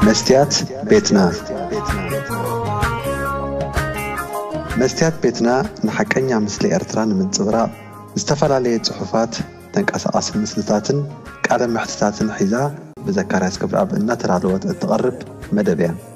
መስትያት ቤትና መስትያት ቤትና ንሓቀኛ ምስሊ ኤርትራ ንምንጽብራቕ ዝተፈላለየ ጽሑፋት፣ ተንቀሳቓሲ ምስልታትን ቃለ መሕትታትን ሒዛ ብዘካርያስ ገብረኣብ እናተዳለወት እትቐርብ መደብ እያ።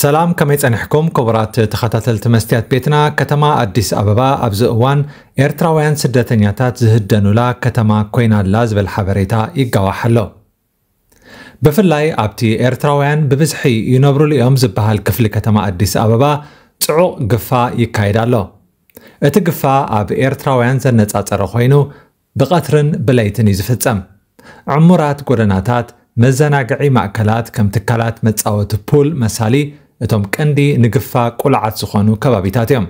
ሰላም ከመይ ጸኒሕኩም ክቡራት ተኸታተልቲ መስትያት ቤትና ከተማ ኣዲስ ኣበባ ኣብዚ እዋን ኤርትራውያን ስደተኛታት ዝህደኑላ ከተማ ኮይና ኣላ ዝበል ሓበሬታ ይጋዋሕ ኣሎ ብፍላይ ኣብቲ ኤርትራውያን ብብዝሒ ይነብሩሉ እዮም ዝበሃል ክፍሊ ከተማ ኣዲስ ኣበባ ጽዑቕ ግፋ ይካየድ ኣሎ እቲ ግፋ ኣብ ኤርትራውያን ዘነጻጸረ ኮይኑ ብቐትርን ብለይትን እዩ ዝፍጸም። ዕሙራት ጎደናታት፣ መዘናግዒ ማእከላት ከም ትካላት መጻወቲ ፑል መሳሊ እቶም ቀንዲ ንግፋ ቁልዓት ዝኾኑ ከባቢታት እዮም።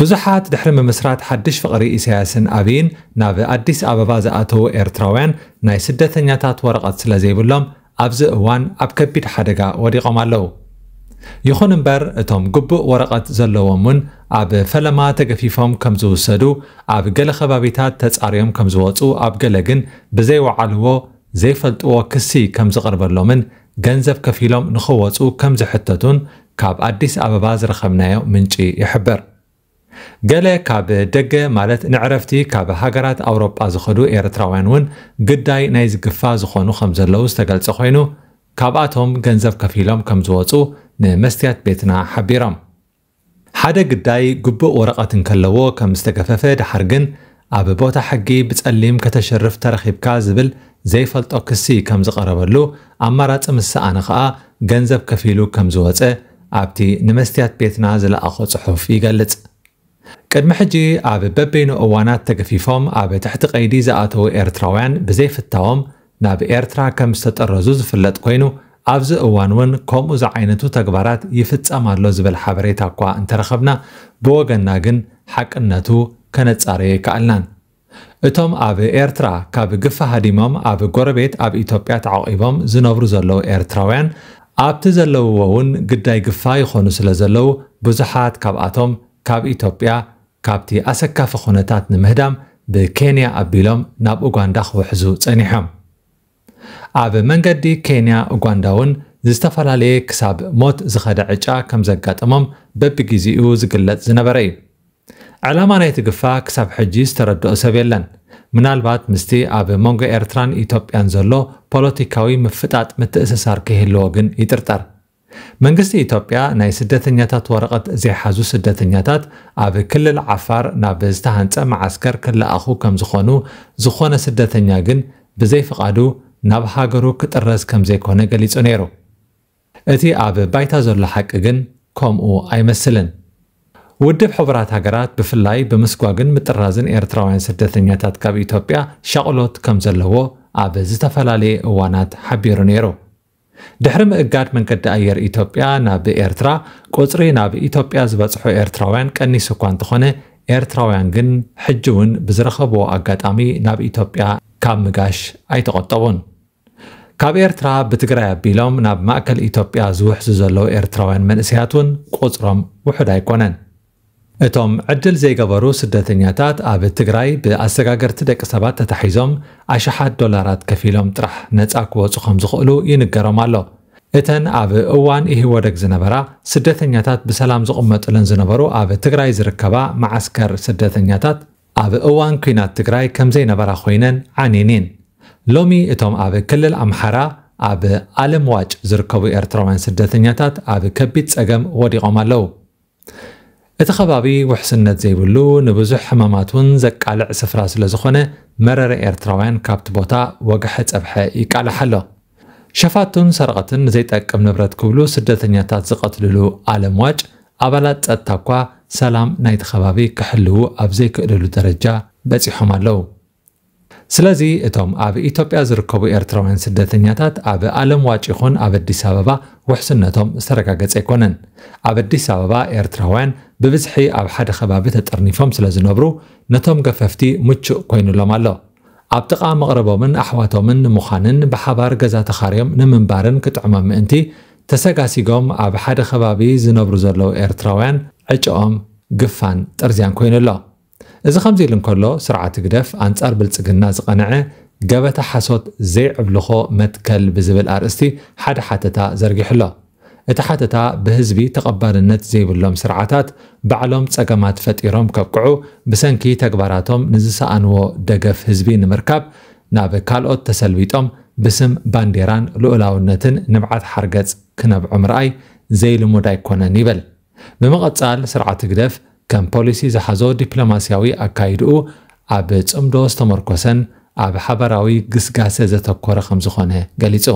ብዙሓት ድሕሪ ምምስራት ሓድሽ ፍቕሪ ኢሳያስን ኣብይን ናብ ኣዲስ ኣበባ ዝኣተዉ ኤርትራውያን ናይ ስደተኛታት ወረቐት ስለዘይብሎም ኣብዚ እዋን ኣብ ከቢድ ሓደጋ ወዲቖም ኣለዉ። ይኹን እምበር እቶም ግቡእ ወረቐት ዘለዎም'ውን ኣብ ፈለማ ተገፊፎም ከም ዝውሰዱ፣ ኣብ ገለ ከባቢታት ተጻርዮም ከም ዝወጹ ኣብ ገለ ግን ብዘይወዓልዎ ዘይፈልጥዎ ክሲ ከም ዝቐርበሎምን ገንዘብ ከፊሎም ንኽወጹ ከም ዝሕተቱን ካብ ኣዲስ ኣበባ ዝረኸብናዮ ምንጪ ይሕብር። ገለ ካብ ደገ ማለት ንዕረፍቲ ካብ ሃገራት ኣውሮጳ ዝኸዱ ኤርትራውያን እውን ግዳይ ናይዚ ግፋ ዝኾኑ ከምዘለዉ ዝተገልጸ ኮይኑ ካብኣቶም ገንዘብ ከፊሎም ከምዝወጹ ንመስትያት ቤትና ሓቢሮም። ሓደ ግዳይ ግቡእ ወረቐት እንከለዎ ከምዝተገፈፈ ደሓር ግን ኣብ ቦታ ሕጊ ብጸሊም ከተሽርፍ ተረኺብካ ዝብል ዘይፈልጦ ክሲ ከም ዝቐረበሉ ኣማራጺ ምስ ሰኣነ ከኣ ገንዘብ ከፊሉ ከም ዝወጸ ኣብቲ ንመስትያት ቤትና ዝለኣኾ ጽሑፍ ይገልጽ። ቅድሚ ሕጂ ኣብ በበይኑ እዋናት ተገፊፎም ኣብ ትሕቲ ቀይዲ ዝኣተዉ ኤርትራውያን ብዘይፍታዎም ናብ ኤርትራ ከም ዝተጠረዙ ዝፍለጥ ኮይኑ፣ ኣብዚ እዋን እውን ከምኡ ዝዓይነቱ ተግባራት ይፍጸም ኣሎ ዝብል ሓበሬታ እኳ እንተረኸብና፣ ብወገንና ግን ሓቅነቱ ከነጻርዮ ኣይከኣልናን። እቶም ኣብ ኤርትራ ካብ ግፊ ሃዲሞም ኣብ ጎረቤት ኣብ ኢትዮጵያ ተዓቚቦም ዝነብሩ ዘለዉ ኤርትራውያን ኣብቲ ዘለውዎ እውን ግዳይ ግፋ ይኾኑ ስለ ዘለዉ ብዙሓት ካብኣቶም ካብ ኢትዮጵያ ካብቲ ኣሰካፊ ኩነታት ንምህዳም ብኬንያ ኣቢሎም ናብ ኡጋንዳ ክውሕዙ ጸኒሖም። ኣብ መንገዲ ኬንያ ኡጋንዳ'ውን ዝተፈላለየ ክሳብ ሞት ዝኸደ ዕጫ ከም ዘጋጠሞም በብጊዚኡ ዝግለጽ ዝነበረ እዩ። ዕላማ ናይቲ ግፋ ክሳብ ሕጂ ዝተረድኦ ሰብ የለን። ምናልባት ምስቲ ኣብ መንጎ ኤርትራን ኢትዮጵያን ዘሎ ፖለቲካዊ ምፍጣጥ ምትእስሳር ከይህልዎ ግን ይጥርጠር። መንግስቲ ኢትዮጵያ ናይ ስደተኛታት ወረቐት ዘይሓዙ ስደተኛታት ኣብ ክልል ዓፋር ናብ ዝተሃንፀ መዓስከር ክለኣኹ ከምዝኾኑ ዝኾነ ስደተኛ ግን ብዘይ ፍቓዱ ናብ ሃገሩ ክጥረዝ ከምዘይኮነ ገሊፁ ነይሩ። እቲ ኣብ ባይታ ዘሎ ሓቂ ግን ከምኡ ኣይመስልን። ውድብ ሕቡራት ሃገራት ብፍላይ ብምስጓግን ምጥራዝን ኤርትራውያን ስደተኛታት ካብ ኢትዮጵያ ሻቕሎት ከምዘለዎ ኣብ ዝተፈላለየ እዋናት ሓቢሩ ነይሩ። ድሕሪ ምእጋድ መንገዲ ኣየር ኢትዮጵያ ናብ ኤርትራ፣ ቁጽሪ ናብ ኢትዮጵያ ዝበጽሑ ኤርትራውያን ቀኒሱ እኳ እንተኾነ፣ ኤርትራውያን ግን ሕጂ'ውን ብዝረኸብዎ ኣጋጣሚ ናብ ኢትዮጵያ ካብ ምጋሽ ኣይተቖጠቡን። ካብ ኤርትራ ብትግራይ ኣቢሎም ናብ ማእከል ኢትዮጵያ ዝውሕዙ ዘለዉ ኤርትራውያን መንእሰያት'ውን ቁጽሮም ውሑድ ኣይኮነን። እቶም ዕድል ዘይገበሩ ስደተኛታት ኣብ ትግራይ ብኣሰጋገርቲ ደቂ ሰባት ተታሒዞም ኣሽሓት ዶላራት ከፊሎም ጥራሕ ነፃ ክወፁ ከምዝኽእሉ ይንገሮም ኣሎ። እተን ኣብ እዋን ኢህወደግ ዝነበራ ስደተኛታት ብሰላም ዝቕመጡለን ዝነበሩ ኣብ ትግራይ ዝርከባ መዓስከር ስደተኛታት ኣብ እዋን ኲናት ትግራይ ከምዘይነበራ ኮይነን ዓንየን'የን። ሎሚ እቶም ኣብ ክልል ኣምሓራ ኣብ ኣለምዋጭ ዝርከቡ ኤርትራውያን ስደተኛታት ኣብ ከቢድ ፀገም ወዲቖም ኣለው። እቲ ከባቢ ውሕስነት ዘይብሉ፣ ንብዙሕ ሕማማት ውን ዘቃልዕ ስፍራ ስለዝኾነ መረረ ኤርትራውያን ካብቲ ቦታ ወግሐ ጸብሐ ይቃላሕ ኣሎ። ሸፋቱን ሰረቕትን ንዘይጠቅም ንብረት ክብሉ ስደተኛታት ዝቐትልሉ ኣለም ዋጭ፣ ኣባላት ጸጥታ'ኳ ሰላም ናይቲ ከባቢ ክሕልዉ ኣብ ዘይክእልሉ ደረጃ በጺሖም ኣለዉ። ስለዚ እቶም ኣብ ኢትዮጵያ ዝርከቡ ኤርትራውያን ስደተኛታት ኣብ ኣለምዋጭ ይኹን ኣብ ኣዲስ ኣበባ ውሕስነቶም ዝተረጋገጸ ኣይኮነን። ኣብ ኣዲስ ኣበባ ኤርትራውያን ብብዝሒ ኣብ ሓደ ከባቢ ተጠርኒፎም ስለዝነብሩ ነቶም ገፈፍቲ ምቹእ ኮይኑሎም ኣሎ። ኣብ ጥቓ መቕርቦምን ኣሕዋቶምን ንምዃንን ብሓባር ገዛ ተኻርዮም ንምንባርን ክጥዕሞም ምእንቲ ተሰጋሲጎም ኣብ ሓደ ከባቢ ዝነብሩ ዘለዉ ኤርትራውያን ዕጭኦም ግፋን ጥርዝያን ኮይኑ ኣሎ። እዚ ከምዚ ኢሉ እንከሎ ስርዓት ህግደፍ ኣንጻር ብልጽግና ዝቐንዐ ገበታ ሓሶት ዘይዕብልኾ መትከል ብዝብል ኣርእስቲ ሓደ ሓተታ ዘርጊሑ ኣሎ። እቲ ሓተታ ብህዝቢ ተቐባልነት ዘይብሎም ስርዓታት ባዕሎም ጸገማት ፈጢሮም ከብቅዑ ብሰንኪ ተግባራቶም ንዝሰኣንዎ ደገፍ ህዝቢ ንምርካብ ናብ ካልኦት ተሰልቢጦም ብስም ባንዴራን ልኡላውነትን ንብዓት ሓርገጽ ክነብዑ ምርኣይ ዘይልሙድ ኣይኮነን ይብል። ብምቕጻል ስርዓት ህግደፍ ከም ፖሊሲ ዝሓዞ ዲፕሎማስያዊ ኣካይድኡ ኣብ ጽምዶ ዝተመርኮሰን ኣብ ሓባራዊ ግስጋሰ ዘተኮረ ከምዝኾነ ገሊጹ።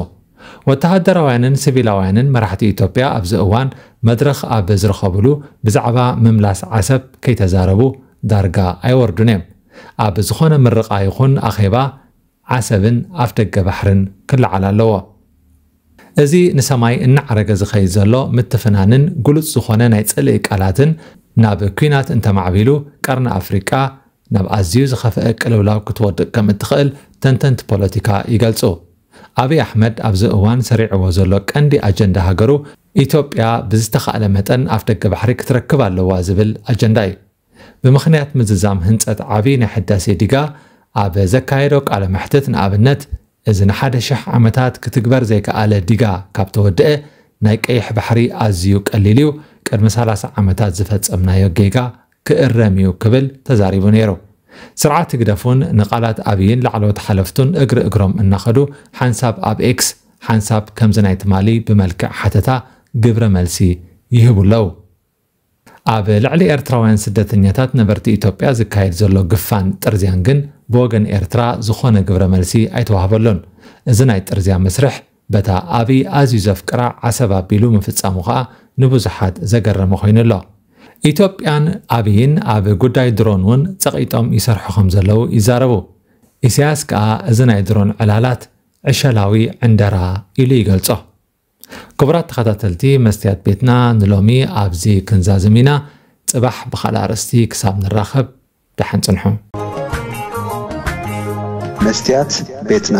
ወተሃደራውያንን ስቪላውያንን መራሕቲ ኢትዮጵያ ኣብዚ እዋን መድረኽ ኣብ ዝረኸቡሉ ብዛዕባ ምምላስ ዓሰብ ከይተዛረቡ ዳርጋ ኣይወርዱን'ዮም። ኣብ ዝኾነ ምርቓ ይኹን ኣኼባ ዓሰብን ኣፍደገ ባሕርን ክለዓል ኣለዎ። እዚ ንሰማይ እናዓረገ ዝኸይድ ዘሎ ምትፍናንን ግሉጽ ዝኾነ ናይ ጽልኢ ቃላትን ናብ ኲናት እንተማዕቢሉ ቀርኒ ኣፍሪቃ ናብ ኣዝዩ ዝኸፍኤ ቅልውላው ክትወድቅ ከም እትኽእል ተንተንቲ ፖለቲካ ይገልጹ። ኣብይ ኣሕመድ ኣብዚ እዋን ሰሪዕዎ ዘሎ ቀንዲ ኣጀንዳ ሃገሩ ኢትዮጵያ ብዝተኻእለ መጠን ኣፍደገ ባሕሪ ክትረክብ ኣለዋ ዝብል ኣጀንዳ እዩ። ብምኽንያት ምዝዛም ህንጸት ዓብይ ናይ ሕዳሴ ዲጋ ኣብ ዘካየዶ ቃለ መሕትት ንኣብነት እዚ ንሓደ ሽሕ ዓመታት ክትግበር ዘይከኣለ ዲጋ ካብ ተወደኣ ናይ ቀይሕ ባሕሪ ኣዝዩ ቀሊል እዩ፣ ቅድሚ ሰላሳ ዓመታት ዝፈጸምናዮ ጌጋ ክእረም እዩ ክብል ተዛሪቡ ነይሩ። ስርዓት ህግደፍ'ውን ንቓላት ኣብይን ላዕለዎት ሓለፍቱን እግሪ እግሮም እናኸዱ ሓንሳብ ኣብ ኤክስ ሓንሳብ ከምዚ ናይ ትማሊ ብመልክዕ ሓተታ ግብረ መልሲ ይህቡ ኣለዉ። ኣብ ልዕሊ ኤርትራውያን ስደተኛታት ነበርቲ ኢትዮጵያ ዝካየድ ዘሎ ግፋን ጥርዝያን ግን ብወገን ኤርትራ ዝኾነ ግብረ መልሲ ኣይተዋህበሎን። እዚ ናይ ጥርዝያ መስርሕ በታ ኣብይ ኣዝዩ ዘፍቅራ ዓሰብ ኣቢሉ ምፍጻሙ ከኣ ንብዙሓት ዘገረመ ኮይኑ ኣሎ። ኢትዮጵያን ኣብይን ኣብ ጉዳይ ድሮን እውን ጸቒጦም ይሰርሑ ከም ዘለዉ ይዛረቡ። ኢሳያስ ከኣ እዚ ናይ ድሮን ዕላላት ዕሸላዊ ዕንደራ ኢሉ ይገልጾ። ክቡራት ተኸታተልቲ መስትያት ቤትና ንሎሚ ኣብዚ ክንዛዝም ኢና ጽባሕ ብኻልእ ኣርእስቲ ክሳብ ንራኸብ ደሓን ጽንሑ። መስትያት ቤትና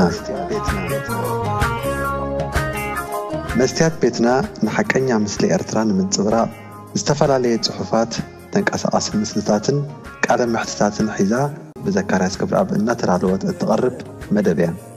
መስትያት ቤትና ንሓቀኛ ምስሊ ኤርትራ ንምንጽብራቕ ዝተፈላለየ ጽሑፋት፣ ተንቀሳቓሲ ምስልታትን ቃለ መሕትታትን ሒዛ ብዘካርያስ ገብረኣብ እናተዳለወት እትቐርብ መደብ እያ።